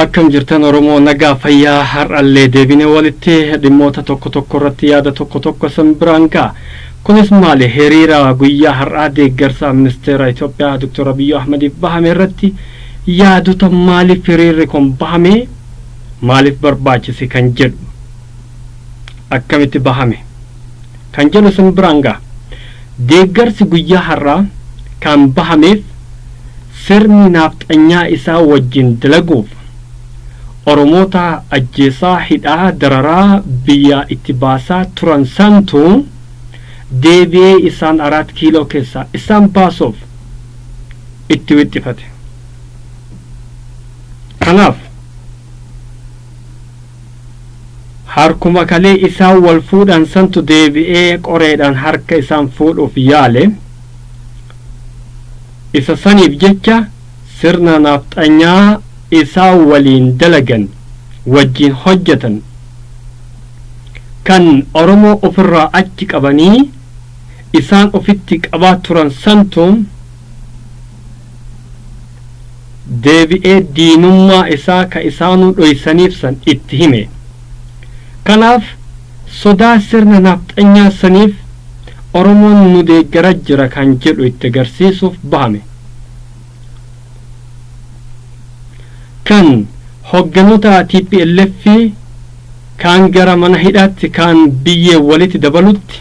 Akkam jirtan Oromoo nagaa fayyaa har'allee deebine walitti dhimmoota tokko tokko irratti yaada tokko tokko isin biraan ga'a. Kunis maali hiriira guyyaa har'aa deeggarsa ministeera Itoophiyaa Dr. Abiyyi Ahmadiif bahame irratti yaadota maaliif hiriirri kun bahame maaliif barbaachise kan jedhu akkamitti bahame kan jedhu isin biraan gaha. Deeggarsi guyyaa har'aa kan bahameef sirni naafxanyaa isaa wajjin dalaguuf Oromoota ajjeesaa, hidhaa, dararaa, biyyaa itti baasaa turan santu deebi'ee isaan Araat Kiiloo keessaa isaan baasuuf itti wixxifate. Kanaaf. Harkuma kalee isaan wal fuudhan santu deebi'ee qoreedhaan harka isaan fuudhuuf yaale. Isa saniif jecha sirna Nafxanyaa isaan waliin dalagan, wajjiin hojjatan, kan Oromoo ofirraa achi qabanii isaan ofitti qabaa turan santu, deebi'ee diinummaa isaa ka isaanuu dhoysaniif san itti hime. Kanaaf sodaa sirna nafxanyaa saniif Oromoon nu deeggara jira kan jedhu itti garsiisuuf bahame. Kan hogganoota tplf kaan gara mana hidhaatti kaan biyyee walitti dabalutti,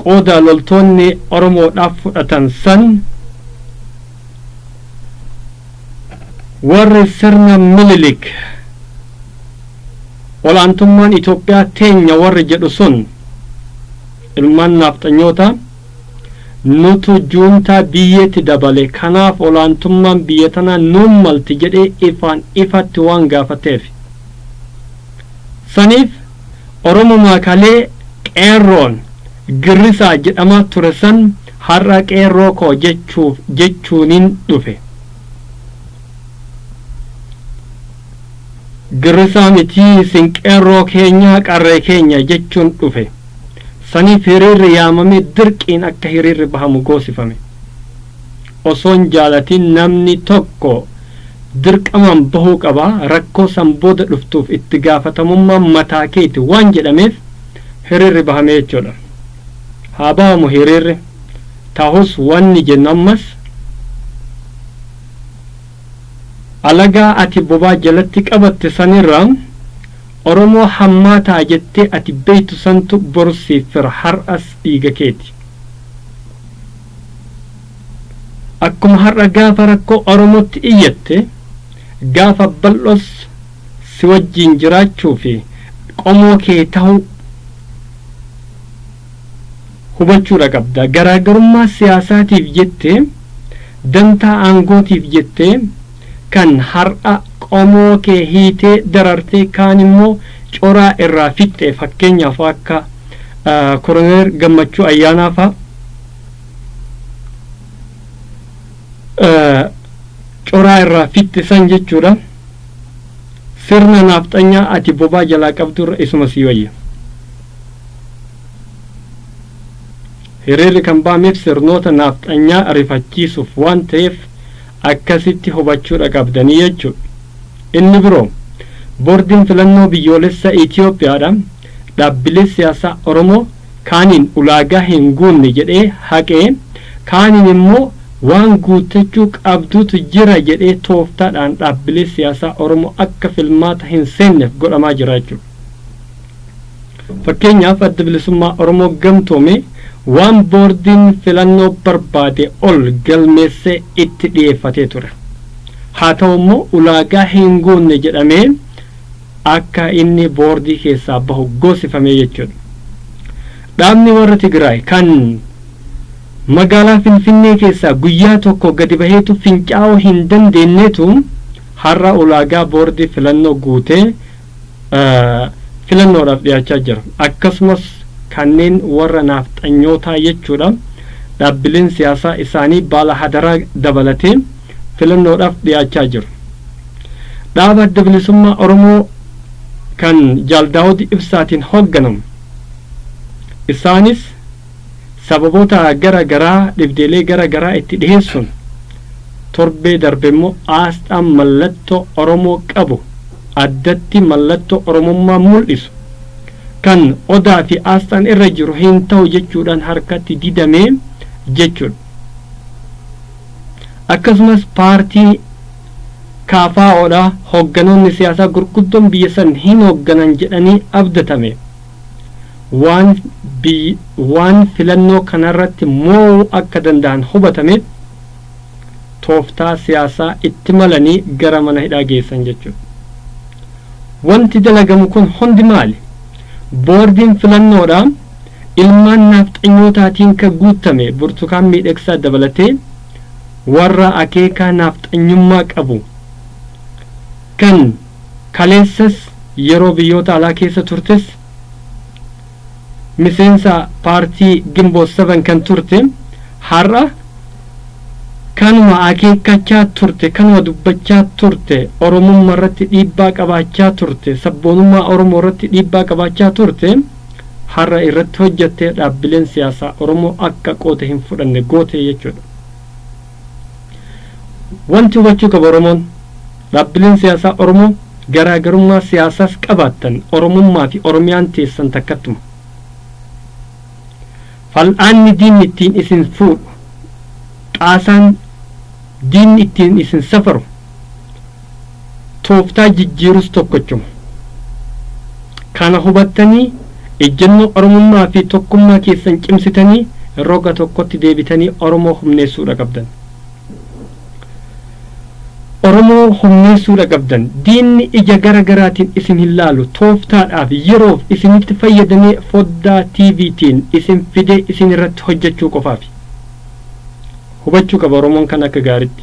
qooda loltoonni Oromoodhaaf fudhatan san warri sirna Minilik ol'aantummaan Itoophiyaa teenya warri jedhu sun ilmaan naafxanyootaa nutu juuntaa biyyeetti dabale kanaaf ol'aantummaan biyya tanaa nuun malti jedhee ifaan ifatti waan gaafateef saniif Oromumaa kalee Qeerroon Girrisaa jedhamaa ture san har'a Qeerroo koo jechuuf jechuunin dhufe. Girrisaa miti isin Qeerroo keenya Qarree keenya jechuun dhufe. Saniif hiriirri yaamamee dirqiin akka hiriirri bahamu goosifame. Osoon jaalatin namni tokko dirqamaan bahuu qaba, rakkoo san booda dhuftuuf itti gaafatamummaan mataa keeti waan jedhameef hiriirri bahame jechuudha. Haa bahamu hiriirri, tahus wanni jennu ammas alagaa ati bobaa jalatti qabatte sanirra Oromoo hammaataa jettee ati beeytu santu boru siif fira, har'as dhiiga keeti. Akkuma har'a gaafa rakkoo Oromootti iyyatte, gaafa bal'oos si wajjin jiraachuu fi qomoo kee tahuu hubachuudha qabda. Garaagarummaa siyaasaatiif jettee, dantaa aangootiif jettee, kan har'a qomoo kee hiitee darartee kaan immoo coraa irraa fixxe fakkeenyaaf akka Koroneer Gammachuu Ayyaanaa fa'a coraa irraa fixxe san jechuudha. Sirna naafxanyaa ati bobaa jalaa qabdu irra isuma sii wayya. Hiriirri kan ba'ameef sirnoota naafxanyaa rifachiisuuf waan ta'eef Akkasitti hubachuudha qabdanii jechuudha. Inni biroo, Boordiin Filannoo Biyyoolessa Itiyoophiyaadha dhaabbilee siyaasaa Oromoo kaaniin ulaagaa hin guunne jedhee haqee, kaaniin immoo waan guuttachuu qabduutu jira jedhee tooftaadhaan dhaabbilee siyaasaa Oromoo akka filmaata hin seenneef godhamaa jira jechuudha. Fakkeenyaaf Addi Bilisummaa Oromoo gamtoome waan boordiin filannoo barbaade ol galmeessee itti dhiyeeffatee ture. Haa ta'u immoo ulaagaa hin guunne jedhamee akka inni boordii keessaa bahu goosifamee jechuudha. Dhaabni warra Tigraay kan magaalaa Finfinnee keessaa guyyaa tokko gadi baheetu fincaa'uu hin dandeenyeetu har'a ulaagaa boordii filannoo guutee filannoodhaaf dhiyaachaa jiran akkasumas kanneen warra naafxanyootaa jechuudha dhaabbileen siyaasaa isaanii baala hadaraa dabalatee filannoodhaaf dhiyaachaa jiru. Dhaaba adda bilisummaa Oromoo kan Jaal Daawud Ibsaatiin hoogganamu isaanis sababoota gara garaa dhibdeelee gara garaa itti dhiheessuun torbee darbe immoo aasxaan mallattoo Oromoo qabu addatti mallattoo Oromummaa mul'isu kan Odaa fi aasxaan irra jiru hin ta'u jechuudhaan harkatti didame jechuudha. Akkasumas paartii KFOdha hogganoonni siyaasaa gurguddoon biyya san hin hogganan jedhanii abdatame waan biyy waan filannoo kanarratti moo'uu akka danda'an hubatame tooftaa siyaasaa itti malanii gara mana hidhaa geessan jechuudha. Wanti dalagamu kun hundi maali? Boordiin filannoodha ilmaan naafxanyootaatiin kan guuttame Burtukaan Miidhagsaa dabalatee warra akeekaa naafxanyummaa qabu kan Kaleessas yeroo biyyoota alaa keessa turtes miseensa paartii Ginboot 7 kan turte har'a kanuma akeekkachaa turte, kanuma dubbachaa turte, Oromumma irratti dhiibbaa qabaachaa turte, sabboonummaa Oromoo irratti dhiibbaa qabaachaa turte har'a irratti hojjattee dhaabbileen siyaasaa Oromoo akka qooda hin fudhanne goote jechuudha. Wanti hubachuu qabu Oromoon, dhaabbileen siyaasaa Oromoo garaagarummaa siyaasaas qabaattan Oromummaa fi Oromiyaan teessan takkattuma. Fal'aanni diinni ittiin isin fuudhu, xaasaan diinni ittiin isin safaru, tooftaa jijjiirus tokkochuma. Kana hubattanii ejjennoo Oromummaa fi tokkummaa keessan cimsitanii roga tokkotti deebitanii Oromoo humneessuudha qabdan. Oromoo humneessuudha qabdan. Diinni ija gara garaatiin isin hin laalu. Tooftaadhaaf, yeroof isinitti fayyadamee foddaa TVtiin isin fidee isin irratti hojjechuu qofaafi. Hubachuu qaba Oromoon kana akka gaaritti.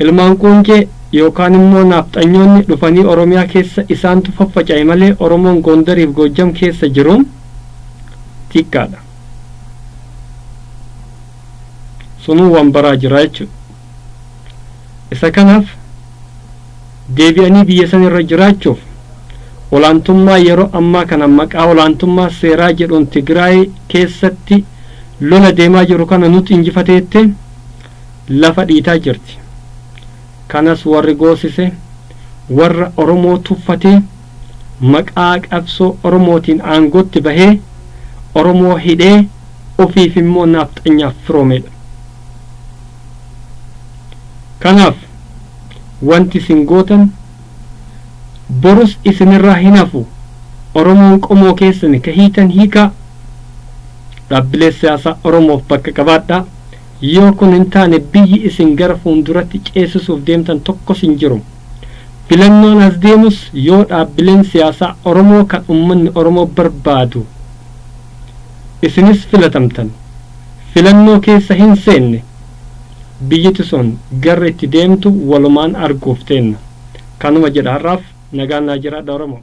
Ilmaan Quuncee yookaan immoo Naafxanyoonni dhufanii Oromiyaa keessa isaantu faffaca'e malee Oromoon Gondariif Goojjam keessa jiru xiqqaadha. Sunuu waan baraa jira jechuudha. Isa kanaaf deebi'anii biyya san irra jiraachuuf olaantummaa yeroo ammaa kana maqaa olaantummaa seeraa jedhuun Tigraay keessatti lola deemaa jiru kana nutu injifate jettee lafa dhiitaa jirti. Kanas warri goosise warra Oromoo tuffatee maqaa qabsoo Oromootiin aangootti bahee Oromoo hidhee ofiif immoo naafxanyaaf firoomeedha. Kanaaf wanti isin gootan borus isinirraa hin hafu Oromoon qomoo keessani ka hiitan hiikaa dhaabbilee siyaasaa Oromoof bakka qabaadhaa. Yoo kun hin taane biyyi isin gara fuunduratti ceesisuuf deemtan tokkos hin jiru. Filannoon as deemus yoo dhaabbileen siyaasaa Oromoo kan ummanni Oromoo barbaadu isinis filatamtan filannoo keessa hin seenne biyyi tison garri itti deemtu walumaan arguuf teenna. Kanuma jedha har'aaf nagaan naa jiraadha Oromoo.